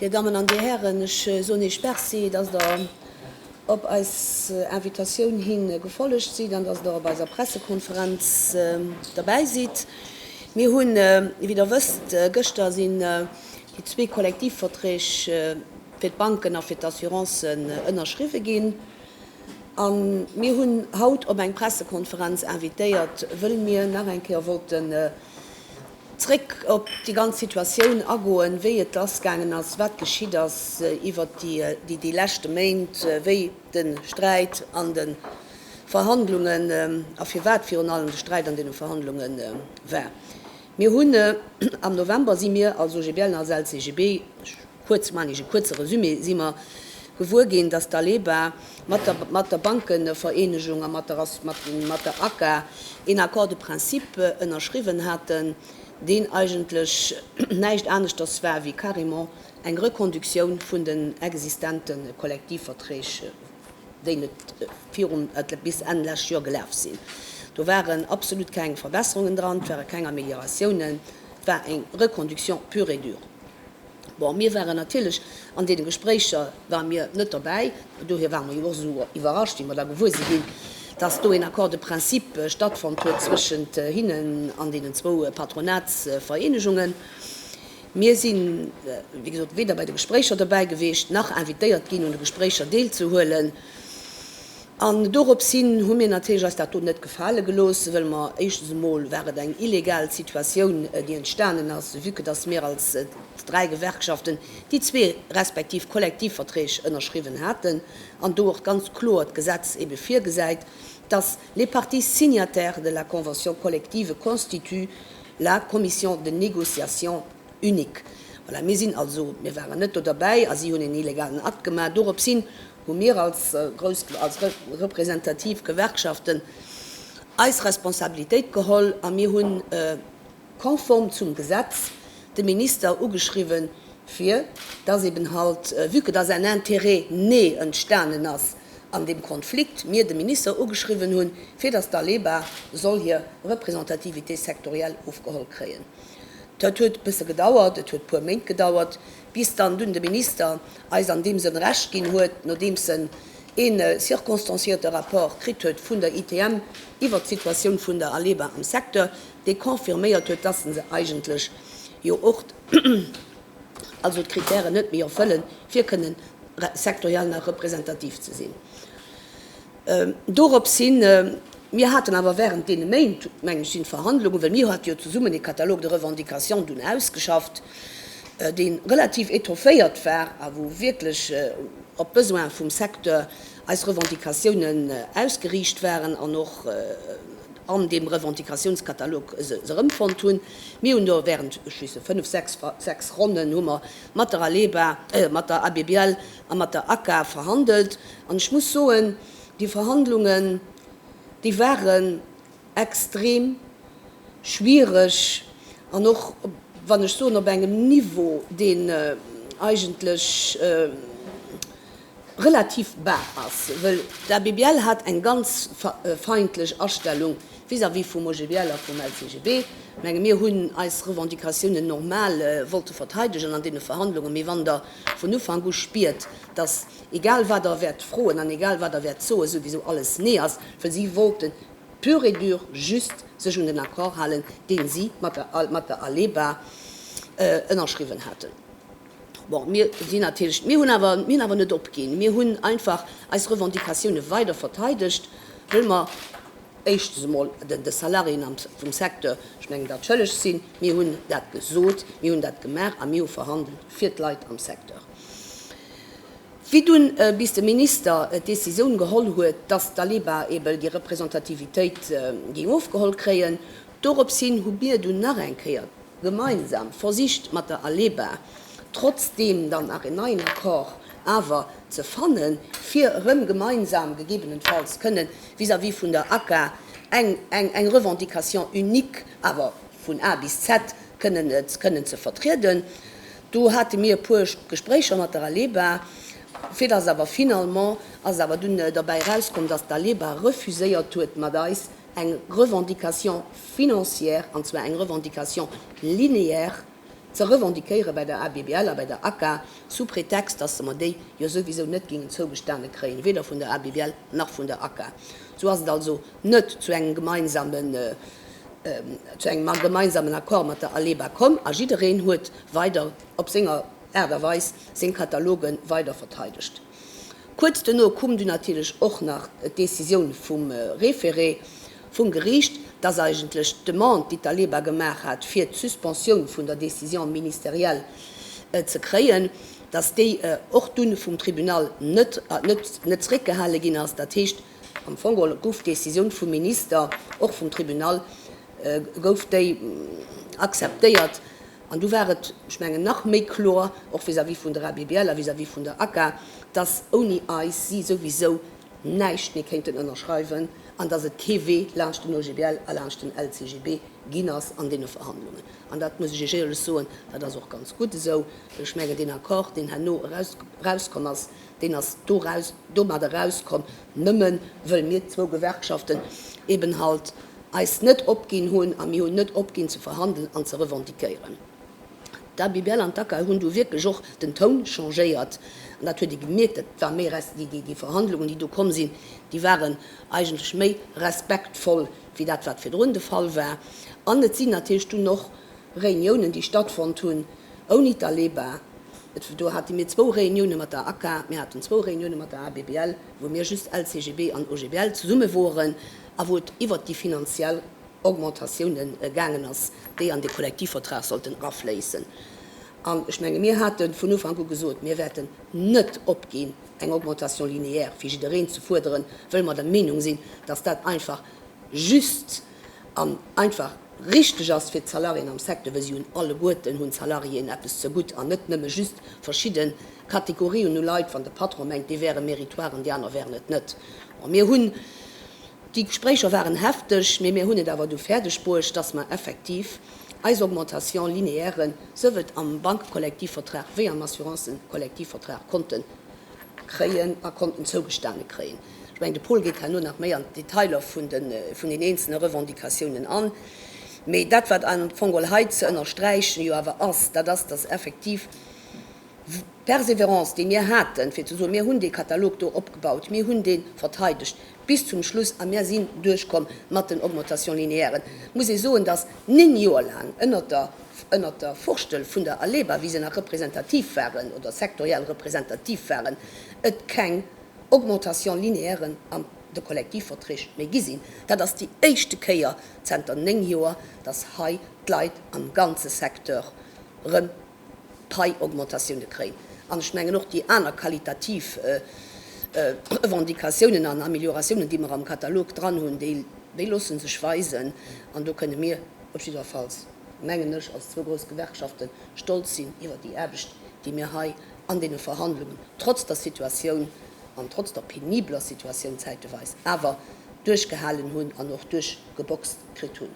Dir Dammen an Dir Hären, ech soen Iech Merci, dass Der op eis Invitatioun hi gefollegt sidd an dass Der op eiser Pressekonferenz derbäi sidd. Mir hunn, wéi Der wësst, gëschter si Déi zwee Kollektivverträg fir d'Banken a fir d'Assurancen ënnerschriwwe ginn. A mir hunn haut op eng Pressekonferenz invitéiert, wëll mir nach eng Kéier wollten zréck op déi ganz Situatioun agoen, wéi et lassgaangen ass, wat geschitt ass iwwert déi leschte Méint, wéi de Sträit an de Verhandlungen a firwat virun allem de Sträit an deene Verhandlunge war. Mir hunn am November, si mir als OGBL an als LCGB, ech kuerz, maan ech e kuerze Resumé, si mer gewuer ginn, datt d'ALEBA mat der, mat der Bankevereenegung a mat der, mat der ACA een Accord de principe ënnerschriwwen haten, deen eigentlech näischt aneschters war wéi carrément eng Reconductioun vun den existente Kollektivverträg. déi net virum bis Enn lescht Joer gelaf sinn. Do waren absolut keng Verbesserungen dran, et ware keng Amelioratiounen, et war eng Reconduction pure et dure. Bon, mir waren natierlech an deene Gespréicher ware mir net dobäi, dohier ware mer jo och esou iwwerrascht, wéi mer da gewuer si ginn, dass do een Accord de principe stattfonnt huet zwëschent hinnen an deenen zwou Patronatsvereenegungen. Mir si wéi gesot weder bei de Gespréicher dobäi gewiescht, nach invitéiert ginn un de Gespréicher deelzehuelen. An dorops hin hu mir natierlech eis dat do net gefale gelooss, well mer éischtens emol war et eng illegal Situatioun, déi entstanen ass, vue que dass mir als dräi Gewerkschaften déi zwee respektiv Kollektivverträg ënnerschriwwen haten an do och ganz kloer d'Gesetz ebe virgesäit, dass les parties signataires de la convention collective constituent La Commission de négociation unique. Voilà, mir sinn also, mir waren net do derbäi a si hunn een illegalen Akt gemaach. Doropshin hu mir als grouss, als representativ Gewerkschaften eis Responsabilitéit geholl a mir hunn konform zum Gesetz de Minister ugeschriwwen, fir dass eben halt, vue que dass en Interêt né entstanen ass, an deem Konflikt mir de Minister ugeschriwwen hunn, fir datt d'ALEBA soll hir Representativité sectorielle ofgeholl kréien. Dat huet e bësse gedauert, et huet e puer Méint gedauert, bis dann dunn de Minister eis an deem Sënn Recht ginn huet, nodeems en ee circonstanciéierte Rapport kritt huet vun der ITM iwwert d'Situatioun vun der ALEBA am Secteur, dee confirméiert huet, datt se eigentlech jo och. also d'Kritären net méi erfëllen, fir kënnen sektoriell nach representativ ze sinn. Dorops hin, mir haten awer während deene Méint, meng ech, sinn d'Verhandlungen, well mir hate jo zesummen ee Catalogue de revendications dunn ausgeschafft, dee relativ étofféiert war a wou wierklech op d'Besoinen vum Secteur eis Revendicatiounen ausgeriicht waren an och an deem Revendicationscatalogue se erëmfonnt hunn. Mir hunn do während, ech schiessen, fënnf, sechs, sechs Ronnen hu mer mat der ALEBA, mat der ABBL a mat der ACA verhandelt. An ech muss soen, déi Verhandlungen, déi waren extrem schwierig an och, wann ech soen, op engem Niveau, deen eigentlech relativ bar ass, wëll d'ABBL hat eng ganz feindlech Astellung vis-à-vis vum OGBL a vum LCGB. Menge mir hunn eis Revendicatiounen normal wollte verteidegen an deene Verhandlungen, mee wann Der vun Ufank u spiert, dass egal wat Der wäert froen an egal wat Der wäert soen, souwisou alles Nee ass, wëll si wollten pur et dur just sech un den Accord halen, dee si mat der ALEBA ënnerschriwwen haten. Bon, mir sinn natierlech, mir hunn awer, mir hunn awer net opginn. Mir hunn einfach eis Revendicatioune weider verteidegt, wëll mer éischtens emol den de Salariéen am vum Secteur, ech mengen dat schëlleg sinn. Mir hunn dat gesot, mir hunn dat gemaach a mir hu verhandelt fir d'Leit am Secteur. Wéi dunn bis de Minister d'Décisioun geholl huet, datt d'ALEBA ebe déi Representativitéit géing ofgeholl kréien, doropshin hu mir dunn nach eng Kéier, gemeinsam versicht mat der ALEBA trotzdeem dann nach een neien Accord awer ze fanne fir erëm gemeinsam gegebenenfalls kënnen vis-à-vis vun der ACCA eng eng Revendication unique awer vun A bis Z kënnen kënnen ze vertrieden. Do hate mir e puer Gespréicher mat der ALEBA, fir datt awer finalement ass awer dunn derbäi erauskomm, datt d'ALEBA refuséiert huet mat eis eng Revendication financière, an zwar eng Revendication linéaire, ze revendiquéiere bei der ABBL a bei der ACA, sous prétexte, dass se mer déi jo souwisou net géingen zougestane kréien, weder vun der ABBL nach vun der ACA. Sou ass et also net zu engem gemeinsamen, zu engem gemeinsamen Accord mat der ALEBA komm, a jiddereen huet weider op senger Aart a Weis seng Kataloge weider verteidegt. Kuerz duerno koum dunn natierlech och nach d'Decisioun vum Référé vum Geriicht, dass eigentlech d'Demande, déi d'ALEBA gemaach hat, fir d'Suspensioun vun der Décision ministérielle ze kréien, dass déi och dunn vum Tribunal net zréckgehale ginn ass. Dat heescht, am Fong geholl gouf d'Decisioun vum Minister, och vum Tribunal gouf déi akzeptéiert. An du war et, ech mengen, nach méi kloer, och vis-à-vis vun der ABBL a vis-à-vis vun der ACA, dass ouni eis si souwisou näischt méi kéinten ënnerschreiwen an dass et kee Wee laanscht den OGBL a laanscht den LCGB ginn ass an deene Verhandlungen. An dat muss ech Iech éierlech soen, dat ass och ganz gutt esou, well ech mengen, deen Accord, deen herno erauskomm ass, Deen ass doraus, domadder rauskomm, nëmmen wëll mir zwou Gewerkschaften eben halt eis net opginn hunn, a mir hunn net opginn ze verhandelen an ze revendiquéieren. D'Abibel an d'ACAL hunn do wierklech och den Toun changéiert, an dat huet ee gemierkt. Dat war méi res, déi, déi, déi Verhandlungen, déi do komm sinn, déi waren eigentlech méi respektvoll wéi dat, wat virdrun de Fall war. An et sinn natierlech dunn och Reuniounen, déi stattfonnt hunn ouni d'Aleba, Do hate mir zwou Reunioune mat der ACA, mir haten zwou Reunioune mat der ABBL, wou mir just LCGB an OGBL zesumme woren a wou et iwwert déi finanziell Augmentatioune gaangen ass, déi an de Kollektivvertrag sollten erafléissen. An ech menge mir hate vun Ufank u gesot, mir wäerten net opginn, eng Augmentation linéaire fir jiddereen ze fuerderen, wëll mer der Meenung sinn, datt dat einfach just an einfach richteg ass fir d'Salariéen am Secteur, well si hunn alleguerten hunn d'Salariéen eppes zegutt an net nëmme just verschidde Kategorien u Leit, wann de Patron mengt, dee wäre meritoire an déi aner wären et net. Bon, mir hunn, déi Gespréicher waren hefteg, mee mir hunn et awer du fäerdeg bruecht, dass mer effektiv eis Augmentation linéaire souwuel am Bank-Kollektivvertrag wéi am Assurance-Kollektivvertrag konnte kréien a konnten zougestane kréien. Ech mengen, de Paul geet herno nach méi an d'Detailer vun den eenzelne Revendicatiounen an. Mee dat, wat am Fong geholl hei ze ënnersträichen jo awer ass, dat ass, dass effektiv d'Persévérance, déi mir haten, fir ze soen, mir hunn dee Katalog do opgebaut, mir hunn dee verteidegt bis zum Schluss a mir sinn duerchkomm mat den Augmentations linéairen, muss ee soen, dass néng Joer laang ënnert der Furstel vun der ALEBA, wéi se nach representativ waren oder sektoriell representativ waren, et keng Augmentation linéaire an de Kollektivverträg méi gi sinn. Dat ass déi éischte Kéier zenter néng Joer, datt hei d'Leit am ganze Secteur erëm Pai-Augmentatioune kréien. An ech mengen och déi aner qualitativ Revendicatiounen an Amelioratiounen, déi mer am Katalog dran hunn, déi loosse sech weisen. An do kënne mir op jiddwerfalls, mengen ech, als zwou grouss Gewerkschafte stolz sinn iwwer déi Aarbecht, déi mir hei an deene Verhandlungen, trotz der Situatioun an trotz der penibeler Situatioun zäiteweis, awer duerchgehalen hunn an och duerchgeboxt kritt hunn.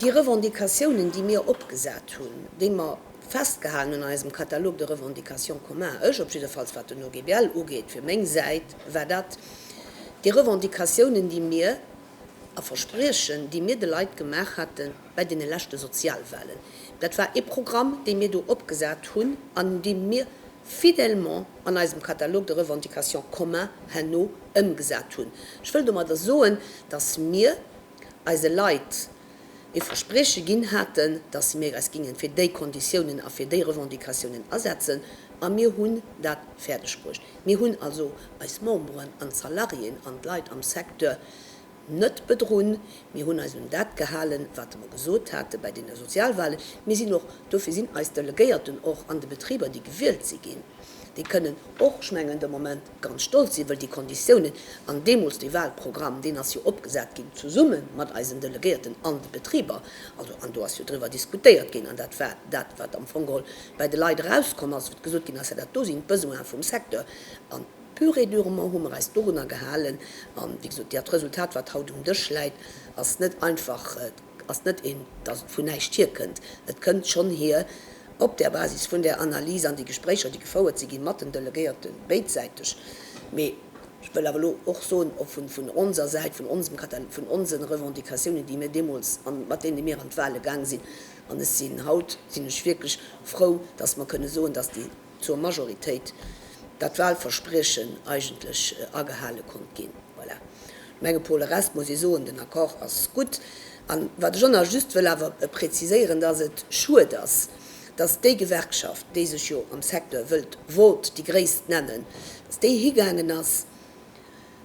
Déi Revendicatiounen, déi mir opgesat hunn, déi mer festgehalen hunn an eisem Catalogue de revendications communs, ech op jiddefalls wat den OGBL ugeet, fir meng Säit war dat déi Revendicatiounen, déi mir, a Verspriechen, déi mir de Leit gemaach hate bei deene leschte Sozialwahlen. Dat war ee Programm, dee mir do opgesat hunn an dee mir fidèlement an eisem Catalogue de revendications communs herno ëmgesat hunn. Ech wëll domadder soen, dass mir eise Leit e Versprieche ginn haten, dass mir eis géinge fir déi Konditiounen a fir déi Revendicatiounen asetzen, a mir hunn dat fäerdeg bruecht. Mir hunn also eis Memberen an d'Salariéen an d'Leit am Secteur net bedrunn. Mir hunn eis un dat gehalen, wat mer gesot hate bei deene Sozialwahlen. Mir sinn och, dofir sinn eis Delegéierten och an de Betriber, déi gewielt si ginn, déi kënnen och, ech mengen de Moment, Ganz stolz si wëll déi Konditiounen an deemools de Wahlprogramm, deen ass jo opgesat ginn zesumme mat eisen Delegéierten an de Betriber, also an do ass jo driwwer diskutéiert ginn an dat war dat wat am Fong geholl bei de Leit erauskomm ass, wat gesot ginn ass, jo dat do sinn d'Besoinen vum Secteur an pur et durement hu mer eis dorunner gehalen an wéi gesot dat Resultat wat haut um Dësch läit ass net einfach. ass net een, dass et vun näischt hierkënnt. Et kënnt schonn hier op där Basis vun där Analys an déi Gespréicher, déi gefouert si ginn mat den Delegéierten, béidsäiteg. Mee ech wëll awer elo och soen, vun onser Säit, vun onsem Katalog, vun onse Revendicatiounen, déi mir deemools an mat deene mir an d'Wahle gaang sinn, an ech sinn, haut sinn ech wierklech frou, dass mer kënne soen, dass déi. zur Majoritéit dat Wahlverspriechen eigentlech agehale konnt ginn. Voilà. Menge pour le reste muss ee soen, den Accord ass gutt. An wat ech och nach just wëll awer preziséieren, dass et schued ass, dass déi Gewerkschaft, déi sech jo am Secteur wëllt wollt déi gréisst nennen, dass déi higaangen ass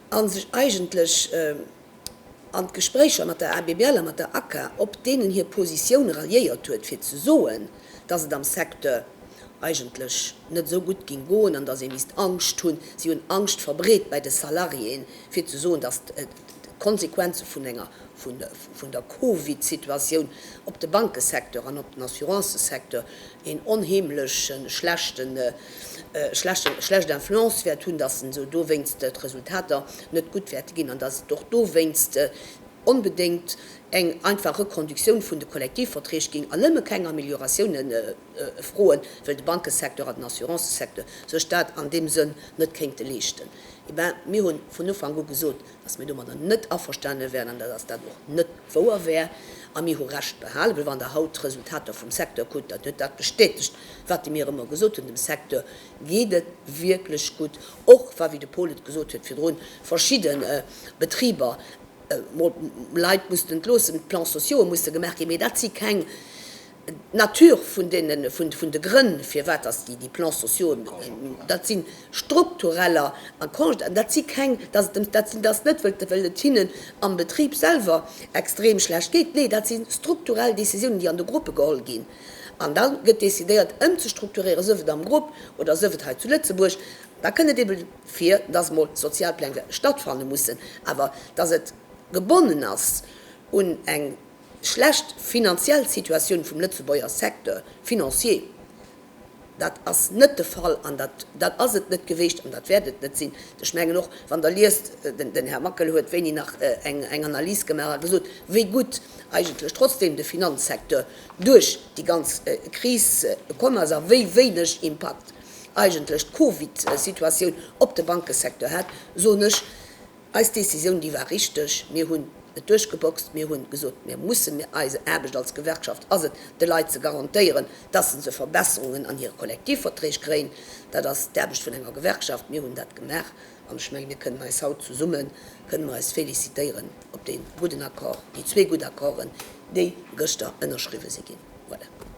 a sech eigentlech, an d'Gespréicher mat der ABBL a mat der ACCA, op deenen hir Positioun ralliéiert huet, fir ze soen, dass et am Secteur eigentlech net esou gutt géing goen an dass ee misst Angscht hunn. Si hunn Angscht verbreet bei de Salariéen, fir ze soen, dass d'Konsequenze vun der Covid-Situatioun op de Bankesecteur an op den Assurancesecteur een onheemleche schlechten, schlechten, schlecht Influence wäert hunn, dass en esou dowéinst d'Resultater net gutt wäerte ginn an dass et och dowéinst onbedéngt eng einfach Reconductioun vun de Kollektivverträg géing an nëmme keng Amelioratioune froen, well de Bankesecteur an den Assurancesecteur sech dat an deem Sënn net kéinte leeschten. Eh bien, mir hu vun Ufank u gesot, Dass mir domadder net averstane wären an dass dat och net wouer wär a mir hu Recht behalen, well wann Der haut d'Resultater vum Secteur kuckt, dann huet dat bestätegt, wat de mir ëmmer gesot hunn, dem Secteur geet et wierklech gutt, och wa, wéi de Paul et gesot huet virdrun, verschidde Betriber mol Leit mussten entloossen, d'Plans sociaus'e musse gemaach ginn, mee dat si keng. D'Nature vun deenen, vun de Grënn, firwat dass déi Plans sociaux, dat si struktureller, dat si keng, dass et, dat sinn dass net, well et hinnen am Betrib selwer extrem schlecht geet. Nee, dat si strukturell Décisiounen, déi an de Gruppe geholl ginn. An da gëtt decidéiert ëmzestrukturieren, sief et am Grupp oder sief et hei zu Lëtzebuerg. Da kënn et ebe vir, dass mol Sozialpläne stattfanne mussen, awer dass et gebonnen ass un eng Schlecht finanziell Situatioun vum Lëtzebuerger Secteur financier, dat ass net de Fall an dat dat ass et net geweecht an dat wäert et net sinn. Ech mengen och, wann Der liest, den Här Makel huet wéini nach eng eng Analys gemaach a gesot, wéi gutt eigentlech trotzdem de Finanzsecteur duerch déi ganz Kris komm ass a wéi wéineg Impakt eigentlech d'Covidsituatioun op de Bankesecteur hat, soen ech, Eis Décisioun, déi war richteg. Mir hunn et duerchgeboxt. Mir hunn gesot, mir mussen, mir, eise Aarbecht als Gewerkschaft ass et, de Leit ze garantéieren, dass se se Verbesserungen an hire Kollektivverträg kréien. Dat ass d'Aarbecht vun enger Gewerkschaft. Mir hunn dat gemaach. An ech menge, mir kënnen eis haut zesumme kënnen mer eis félicitéieren op dee gudden Accord, déi zwee gutt Accorden, déi gëschter ënnerschriwwe si ginn. Voilà.